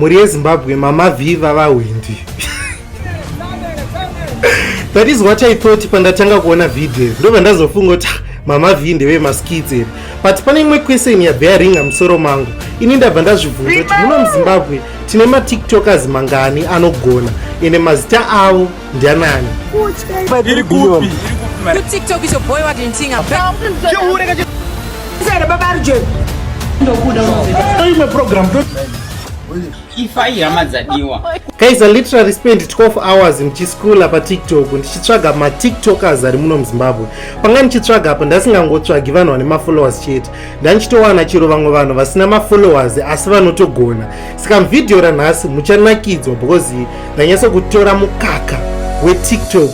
mhuri yezimbabwe mama vhii vavahwindi that is what i thought pandatanga kuona video ndobva ndazofunga kuti ah, mama vhii ndeve maskits ere but pane imwe question yabve yaringa musoro mangu ini ndabva ndazvibvunza kuti muno muzimbabwe tine matiktokers mangani anogona ende mazita avo Ndianani? Iri kupi? You TikTok is your boy what in thing. Chihure kachi. Sere baba arje. Ndokuda unzida. Toyi me program. Ifa ihama dzadiwa. Guys, I literally spent 12 hours ndichiskula patiktok ndichitsvaga matiktokers ari muno muzimbabwe panga ndichitsvaga apa ndasingangotsvagi vanhu vane mafollowers chete ndandichitowana chero vamwe vanhu vasina mafollowers asi vanotogona saka mvideo ranhasi muchanakidzwa because Ndanyasa kutora mukaka weTikTok.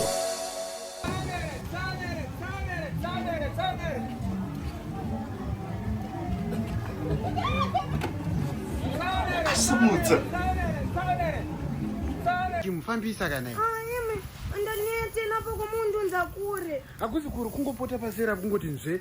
Asimudza. Chimufambisa kana iye. Ah, Andaniye tena poko mundu nzakure. Akuzi kuri kungopota pasera kungoti nzve.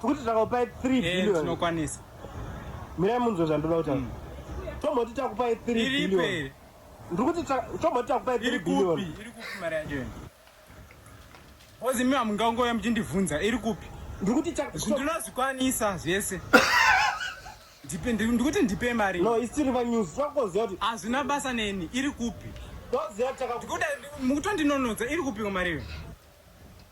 tikuti takakupai 3 eh, billion tinokwanisa mirai munzwe zvandoda kutaura mm. tomoti takupai 3 billion ndiri kuti tomoti takupai 3 billion iri kupi mari yacho yena kozi imi hamungangouya muchindibvunza iri kupi ndiri kuti ndinozvikwanisa zvese ndikuti ndipe mari no isiri vanews takutoziva kuti hazvina basa neni iri kupi toziva takakutondinonodza iri kupi mari iyo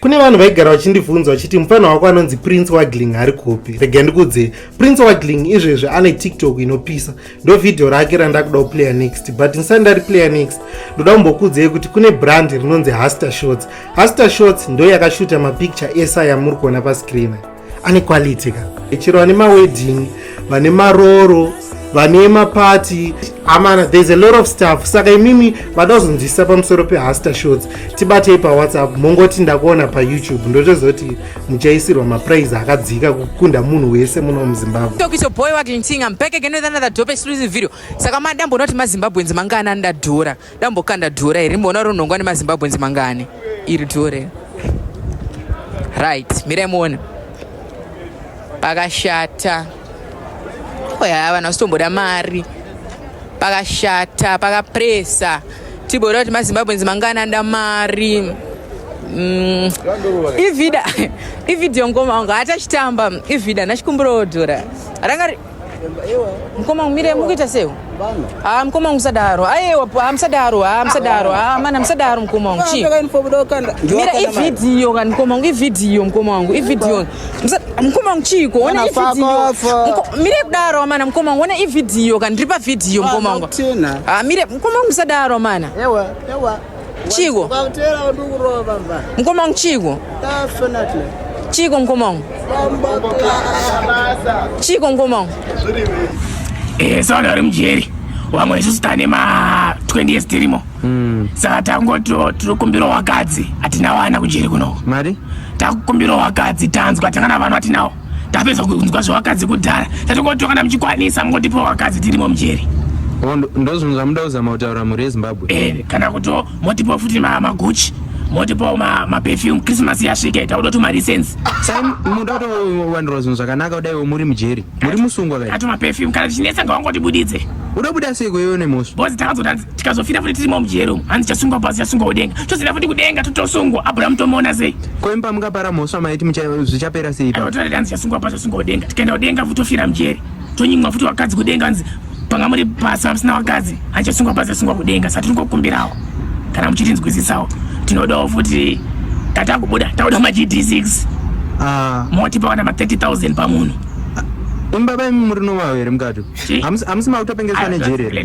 kune vanhu vaigara vachindibvunza vachiti mufana wako anonzi prince wagling ari kupi rega ndikudze prince wagling izvezvi ane tiktok inopisa ndo vhidhiyo rake randakuda kuplayer next but ndisati ndari player next ndoda kumbokudzei kuti kune brand rinonzi haster shots haster shots ndo yakashuta mapicture esa yamuri kuona pascreen ane quality ka chero vane mawedding vane maroro vane mapati amana there's a lot of stuff saka imimi vada kuzonzwisisa pamusoro pehaster shots tibatei pawhatsapp mongoti ndakuona payoutube ndotozoti muchaisirwa maprize akadzika kukunda munhu wese muno muzimbabwe saka madambonoti mazimbabwens mangaanani ndadhora Dambokanda dhora iri mboona rinongwa nemazimbabwenzi mangani iri dhora iri right mirai muone pakashata oya vanhu vasitomboda mari pakashata pakapresa tiboda kuti mazimbabwenzi mangani anda mari mm. ivida ivideo ngoma wangu hatachitamba ivida nachikumbirawo dhora ranga mukoma mire mukuita sewo ha mukoma wangu musadaro ayewa ha musadaro ha musadaro ha mana musadaro mukoma wangu chii mira ivhidhiyo kani mukoma wangu ivhidhiyo mukoma wangu ivhidhiyo mukoma wangu chiiko ona ivhidhiyo mire kudaro amana mukoma wangu ona ivhidhiyo kani ndiri pavhidhiyo mukoma wangu ha mire mukoma wangu musadaro amana Chigo. Kwakutera wandu kurova bamba. Mkoma wangu Chigo. Definitely. Chigo mkoma wangu. Chigo mkoma wangu. Eh, so ndari mujeri. Wamwe isu sitane ma 20 years tirimo. Mm. Saka tangoti tiri kumbira wakadzi atina wana kujeri kuno. Mari? Takukumbira wakadzi tanzwa tangana vanhu atinawo. tapedza kunzwa zvevakadzi kudhara tatongotoana muchikwanisa mungotipiwa vakadzi tirimo mujeri oh, ndozvinhu zvamuda kuzama kutaura mhuri yezimbabwe eh, kana kuti motipiwa futi maguchi motipawo maperfume christmas yasvika ita kuda tumalicense muda kutowandirwa zvinhu zvakanaka kudaiwo muri mujeri muri musungwa kai ato maperfume kana tichinetsa ngawangotibudidze unobuda sei kweiwe nemhosva bhozi takazoda tikazofira futi tirimo mujeri umu hanzi chasungwa pasi chasungwa kudenga chozenda futi kudenga totosungwa abrahamu tomuona sei ko imba mukapara mhosva maiti zvichapera sei totaria hanzi chasungwa pasi chasungwa kudenga tikaenda kudenga futi tofira mujeri tonyimwa futi vakadzi kudenga hanzi panga muri pasi vamusina vakadzi hanzi chasungwa pasi chasungwa kudenga sati tingokumbirawo kana muchitinzwisisawo tinodawo futi tatakubuda tauda mag6 ah. moti pawana ma 30 000 pamunhu imbaba imi muri nomavo here mukati hamusi makutopengeswa nejeri here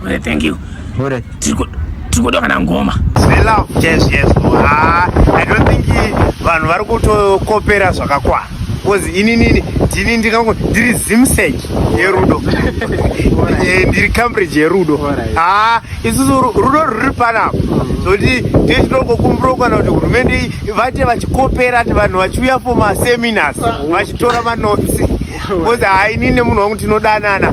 Hure, thank you. Hure. Tiko, tiko doka na ngoma. Zve love. Yes, yes. Ah, I don't think vanhu vari kutokopera zvakakwana. Because ini nini ndini ndingango ndiri Zimsec yerudo. Eh, ndiri Cambridge yerudo. Ah, isusu rudo ruri panapa. Zoti ndiye chinongo kumbiro kana kuti hurumende vate vachikopera ati vanhu vachiuya for ma seminars vachitora ma notes. Because hainini munhu wangu tinodanana.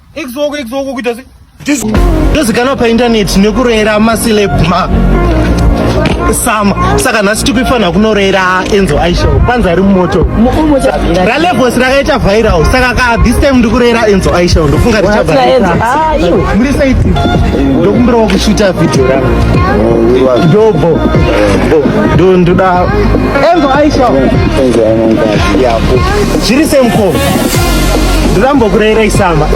Exoko exoko kuita se ndozikanwa paindaneti nekurera masilebma sama saka nhasi tikuifanira kunorera enzo aisho panzi ari mumoto ralevos rakaita viral saka ka this time ndikurera enzo aisho ndofunga richabamuri saiti ndokumbirawo kushuta vhidhio rangu ndobo ndo ndoda enzo aisho zviri semko ndirambokureirei samba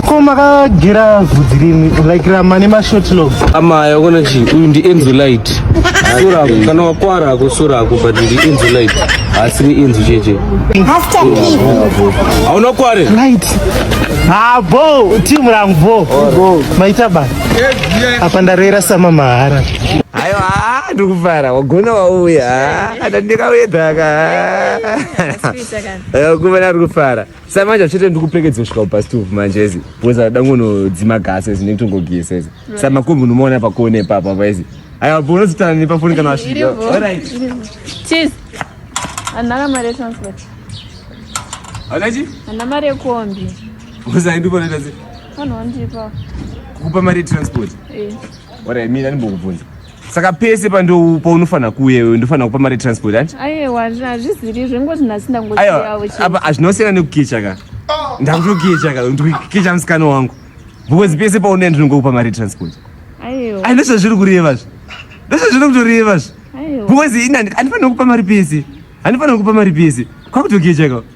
ko makagera vhudzi rimwe like rama nemashotlogs amaya kona chi uyu ndi enzo light surako kana wakwara ako surako but ndi enzo light haasi ni enzo cheche hauna kware light habo team rangu bo maita ba apa ndareira sama mahara ayo haa ndikufara wagona wauya atandika uyedhaka kumana ari kufara sa manje achete ndikupekedzwa kusvika kubastov manje ezi bcoz ada ngonodzima gasi ezi ndinenge tongogisa ezi sa makumbi unomaona pakone ipapa paizi aya bo unozitana nepafoni kana wasvika anaka mari yetransport anachi ana mari yekombi uzaindipanaita se vanhu wandipa kukupa mari yetransport eh. ora mina ndimbokubvunza saka pese pandopaunofanira kuuya iwe ndofanira kupa mari transport ati aiwa hazviziri zvengoti nhasi ndangoapa hazvinosiyana nekukicha ka oh. ndakutokicha ka ndikukicha musikana wangu because pese paunoya ndinongokupa mari transport aiwa ndozvazviri kureva zve ndozvazviri kutoreva zve because ini handifanira kupa mari pese handifanira kupa mari pese kwakutokicha ka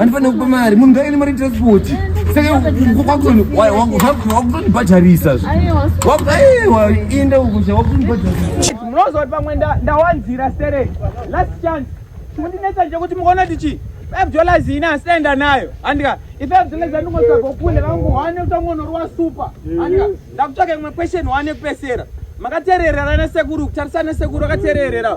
Andifanira kupa mari, munhu ngaine mari transport. Saka wakutoni wakutondibhadharisa zve. Aiwa inda ukucha wakutondibhadharisa. Munozoti pamwe ndawanzira sere. Last chance. Mundinetsa nje kuti mukaona kuti chi five dollars ine asi ndaenda nayo andika ifive dollars andingotsvaga kule vangu wane utangonorwa super andika ndakutsvaga imwe question wane kupesera makatereerera nasekuru kutarisana sekuru akatereerera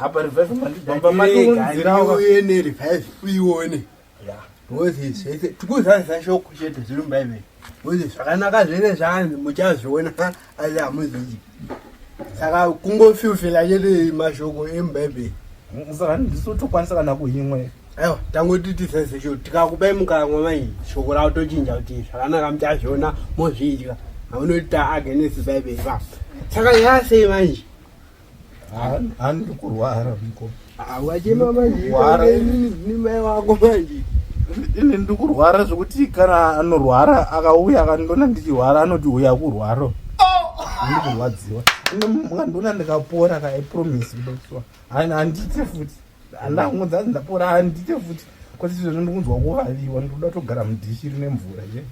Hapa revive mandi bamba mandi unzira uye ne revive uyione. Yeah. Ngozi zvese tikuzadzisa shoko chete zviri muBhaibheri. Ngozi zvakanaka zvese zvaanzi muchazviona asi hamuzivi. Saka kungofilfila chete mashoko emuBhaibheri. Saka ndisu tokwanisa kana kuhimwe. Aiwa tangoti tizeze shoko tikakupai mukamwa mai shoko ravo tochinja kuti zvakanaka muchazviona mozvidya. Haunoti taagenesi Bhaibheri pa. Saka yasei manje. Ani kurwara mko. Awachema manje. Kurwara ini ni mai wako manje. Ini ndikurwara zvekuti kana anorwara akauya akandiona ndichirwara anoti uya kurwaro. Ini kurwadziwa. Ini mukandiona ndikapora ka I promise ndoswa. Ani andite futi. Andangu dzanzi ndapora andite futi. Kwati zvinhu ndikunzwa kuvaviwa ndikuda kutogara mudhishi rine mvura je. Yeah.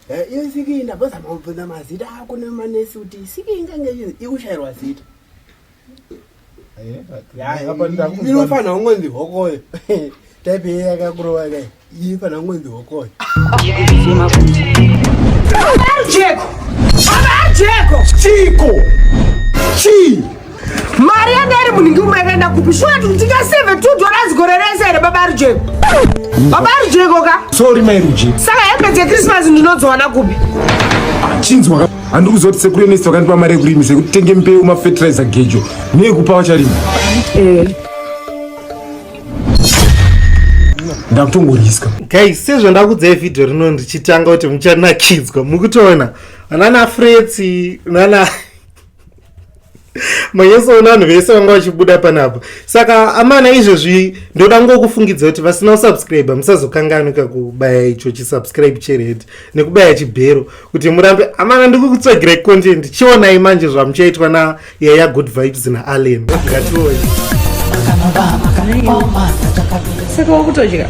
Eh, iyo siki ndabvazama kubvunza mazita ako nemanesi kuti siki ingange ikushairwa zita inofanira kungonzi hokoyo type yeye yakakurova kai inofanira kungonzi hokoyo jeko chiko chii mari yanga iri munhingi umwe yakaenda kupi shuwa kuti tingaseve two dollars gore rese here baba rujeko baba rujeko ka sorry mai rujeko saka hembe dzekrismas ndinodziwana kupi chinzwa handi kuzoti sekuru enesti vakandipa mari yekurimi sekuti tenge mbeu mafetiraiza gejo neyekupa vacharima eh. ndakutongoriswa guys sezvandakudzai vhidhiyo rino ndichitanga kuti muchanakidzwa mukutoona anana fretsi nana manyesoona vanhu vese vanga vachibuda panapa saka amana izvezvi ndoda ngokufungidza kuti vasina kusubscribe musazokanganika kubaya icho chisubscribe chered nekubaya chibhero kuti murambe amana ndikukutsvagirai content chionai manje zvamuchaitwa nayaya good vibes naallen ngatione saka wakutodya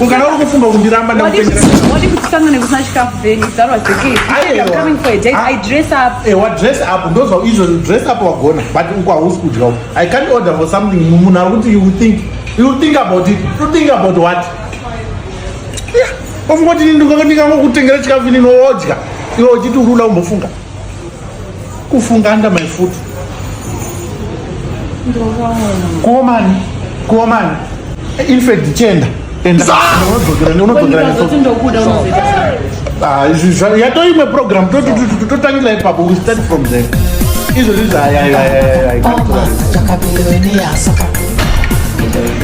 Ukana uri kufunga kundiramba ndakutengera. Wadi kuti sanga nekusina chikafu then if that was the case. Aye, I'm coming for a date. I dress up. Eh, wa dress up. Those are usual dress up wagona. But uko hausi kudya. I can't order for something munhu ari kuti you think. You think about it. You think about what? Yeah. Ofungoti ndingangokutengera chikafu ini nodya. Iwe uchiti urula umbofunga. kufunga under my foot kuomani kuomani infact chenda ah, yatoimwe program totangira ipapo we start from there izvozvi zvayayayayayakapinda weneyasaka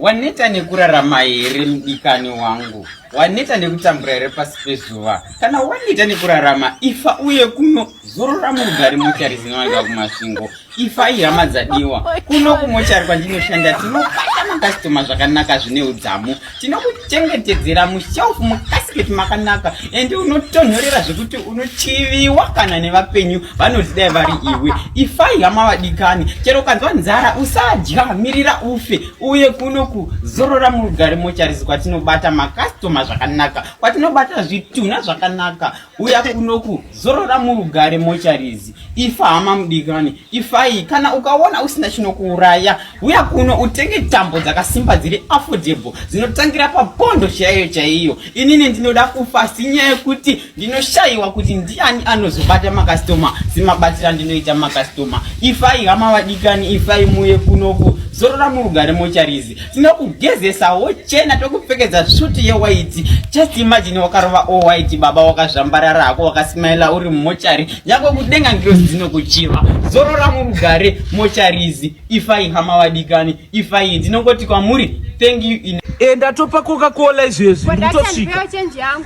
waneta nekurarama here mudikani wangu waneta nekutambura here pasi pezuva kana waneta nekurarama ifa uye kuno zorora murugari mochari zinowanika kumasvingo ifai hama dzadiwa kuno kumochari kwandinoshanda tinobata makastoma zvakanaka zvine udzamu tinokuchengetedzera mushelf mukasiketi makanaka and unotonhorera zvekuti unochiviwa kana nevapenyu vanozidai vari iwe ifai hama vadikani chero ukanzwa nzara usadya mirira ufe uye kuno kuzorora murugare mochari zikwatinobata makastoma zvakanaka kwatinobata zvitunha zvakanaka uya kunoku zorora murugare mocharizi ifa hama mudikani ifai kana ukaona usina chinokuuraya uya kuno utenge tambo dzakasimba dziri affordable dzinotangira papondo chaiyo chaiyo inini ndinoda kufa sinyaya yekuti ndinoshayiwa kuti ndiani anozobata makastoma semabatira ndinoita makastoma ifai hama vadikani ifai muye kunoku zorora murugare mocharizi tinokugezesa wochena tokupfekedza suti yewaiti just imagine wakarova owaiti baba wakazvambarara hako wakasimaila uri mumochari nyangwe kudenga ngirozi dzinokuchiva zorora murugare mochari izi ifai hama vadikani ifai ndinongoti kwamuri thank you in e ndatopa coca cola izvezvi ndotosvika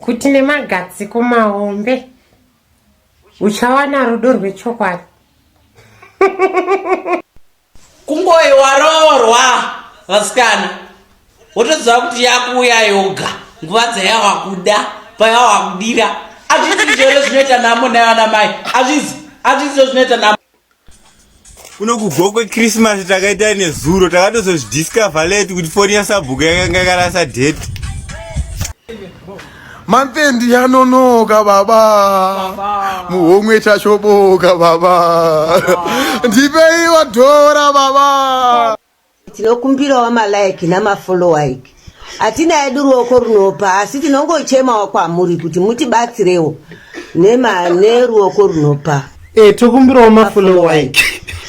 kuti nemagadziko mahombe uchawana rudo rwechokwadi kungoi waroorwa vasikana wotoziva kuti yakuuya yoga nguva dzayawakuda payawakudira azvizi izvozvo zvinoita namo nayo ana mai azvizi azvizi izvo zvinoita namo kuno kugwa kwechristmas takaita nezuro takatozozvidiscover late kuti foni yasabhuku yakanga yakarasa date mantendi yanonoka baba muhomwe chashoboka baba ndipeiwa dhora baba Tinokumbirawo ma like nama follow like. Hatina edu ruoko runopa asi tinongochemawo kwamuri kuti mutibatsirewo nema neruoko runopa. Eh tokumbirawo ma follow like.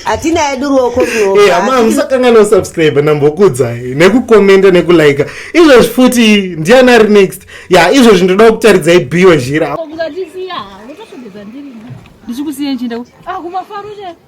Hatina edu ruoko runopa. Eh hama musakangana ku subscribe nambokudzai nekukomenta nekulike. Izvozvi futi ndiana ari next. Ya izvozvi ndoda kutaridzai bio zhira. Ndikusiya nchinde. Ah kumafaro chete.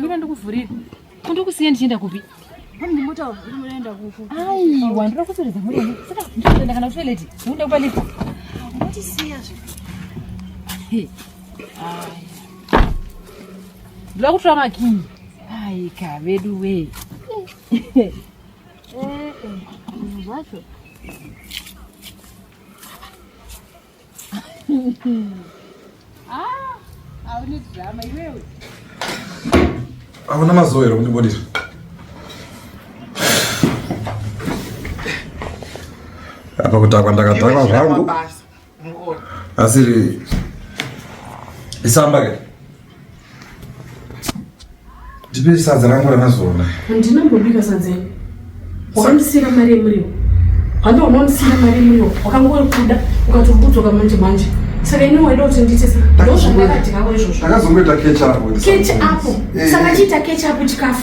Mira ndokuvhurira. Kundokusiya ndichienda kupi? Aiwa, ndoda kuzoridza mhuri yangu. Saka ndikuenda kana kutoilet. Unoda kupa lift. Unotisiya zve. Hey. Ai. Ndoda kutora makinyi. Ai, ka vedu we. Eh, eh. Zvacho. Ah, haune drama iwewe. Hauna mazuva here kundibudira? Apa kutakwa ndakatakwa zvangu. Asiri isamba ke. Ndipe sadza rangu ranazona. Handina kubika sadza ini. Wakandisira mari yemuriwo. Hando unondisira mari yemuriwo. Wakangori kuda ukatobudzoka manje manje. Saka ini waida kuti ndiite sei? Ndoo zvandakadyawo izvozvo. Ndakazongoita catch up. Catch up. Eh. Saka chiita catch up chikafu.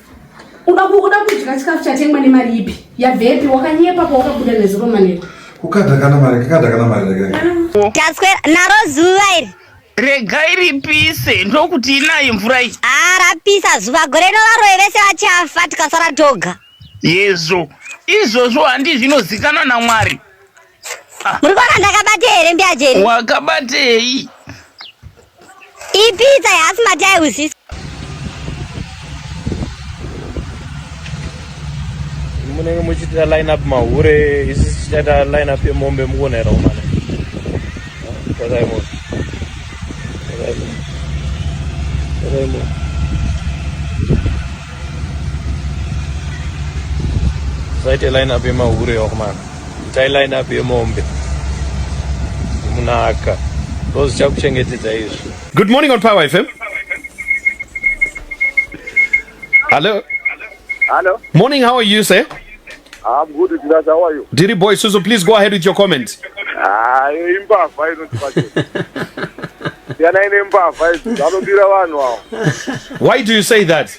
Uda kuda kudya chikafu chatengwa nemari ipi? Yabvepi? Wakanyepa pawakabuda nezuro maneko. Kukada kana mari, kukada kana mari regai. Taswera naro zuva iri. Regai ripise ndokuti inayo mvura iyi. Ah, rapisa zuva gore rino varoyi vese vachafa tikasara toga. Yezvo. Izvozvo handi zvinozikana naMwari. Muri kuona ndakabate here mbiya jeri? Wakabatei? Ipitsa yasi matai usisi. Munenge muchiita line up mahure, isi tichaita line up yemombe mukuona here umana? Tazai moto. Tazai moto. Tazai moto. Zaite line up yemahure yokumana. Itai line up yemombe munaka ndozvichakuchengetedza izvi. Good morning on Power FM. Hello. Hello. Morning, how are you, sir? I'm good, Tidas. How are you? Diri boy, Suzu, please go ahead with your comment. Ah, imbavha inotibate. Yana ine mbavha idzi, vanodira vanhu awo. Why do you say that?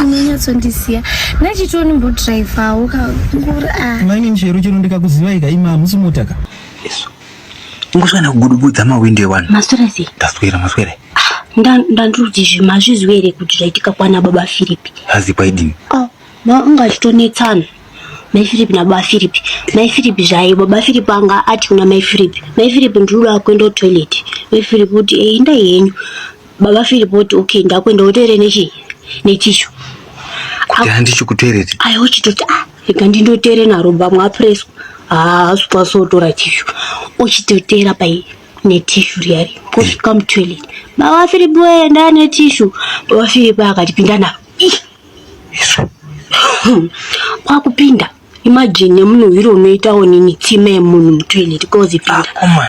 unonyatsondisiya nachitoni mbodrivawo kanguri ah. mainin chero chero ndikakuziva ika ima hamusi mota ka yesu ingoswana kugudubudza mawindo ewanhu maswera sei ndaswera maswera ah, ndandiri kuti zvinhu hazviziwo here kuti zvaitika kwana baba firipi hazikwa idini ah, anga achitonetsana mai firipi nababa firipi mai firipi zvaye baba firipi anga ati kuna mai firipi mai firipi ndiri kuda kuenda kutoilet mai firipi kuti eindai eh, henyu Baba Philip woti okay ndakwenda wotere nechi netishu. Kuti handichi kutere. Ayo chitoti ah rega ndindotere naro bamwa apreswa. Ah swa so tora tishu. Ochitotera pai netishu riyari. Kosh come toilet. Baba Philip wenda netishu. Baba Philip akati pinda na. Isu. Kwa kupinda. Imagine nemunhu hiro unoitawo nini tsime munhu mutoilet kozi pinda. Ah,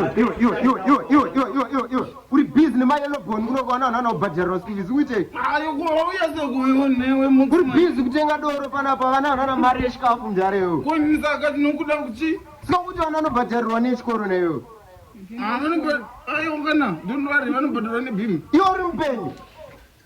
kuri busy nemayellow bone kuno kwaana vanhu vanaobhadharira school fees kuitei kuri busy kutenga doro panapa vana vanhu vana mari yechikafu mdarewo konyisaka tinokuda kuchi sika kuti vana vanobhadharirwa nechikoro neyo ah, iwo uri mupenyu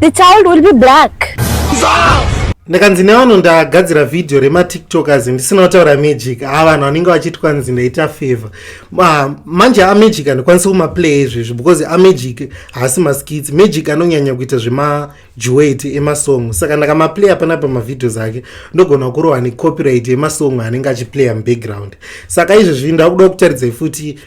The child will be black. ndakanzi nevanhu ndagadzira vhidhiyo rematiktokers ndisina kutaura magic haa vanhu vanenge vachiti kwanzi ndaita favor Ma, manje amagic handikwanisi kumaplay izvezvi because amagic haasi maskits magic anonyanya kuita zvemajuwet emasong saka ndakamaplay apana pamavhidhios ake ndogona kurohwa necopyright yemasong anenge achiplaya mubackground saka izvezvi ndakuda kutaridzai futi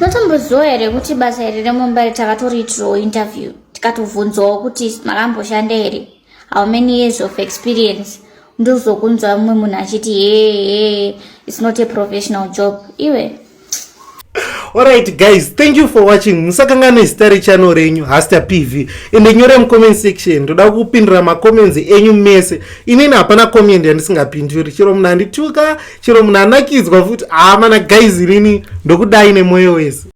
Matomboziwa here kuti basa iri remumba iri takatoriitirawo interview tikatovhunzwawo kuti makamboshanda here how many years of experience ndozokunzwa mumwe munhu achiti hee its not a professional job iwe alright guys thank you for watching musakangane zita rechannel renyu haster pv ende nyore mucomment section ndoda kupindura macomments enyu mese inini hapana comment yandisingapinduri chero munhu andituka chero munhu anakidzwa futi haa mana guys inini ndokudai nemwoyo wese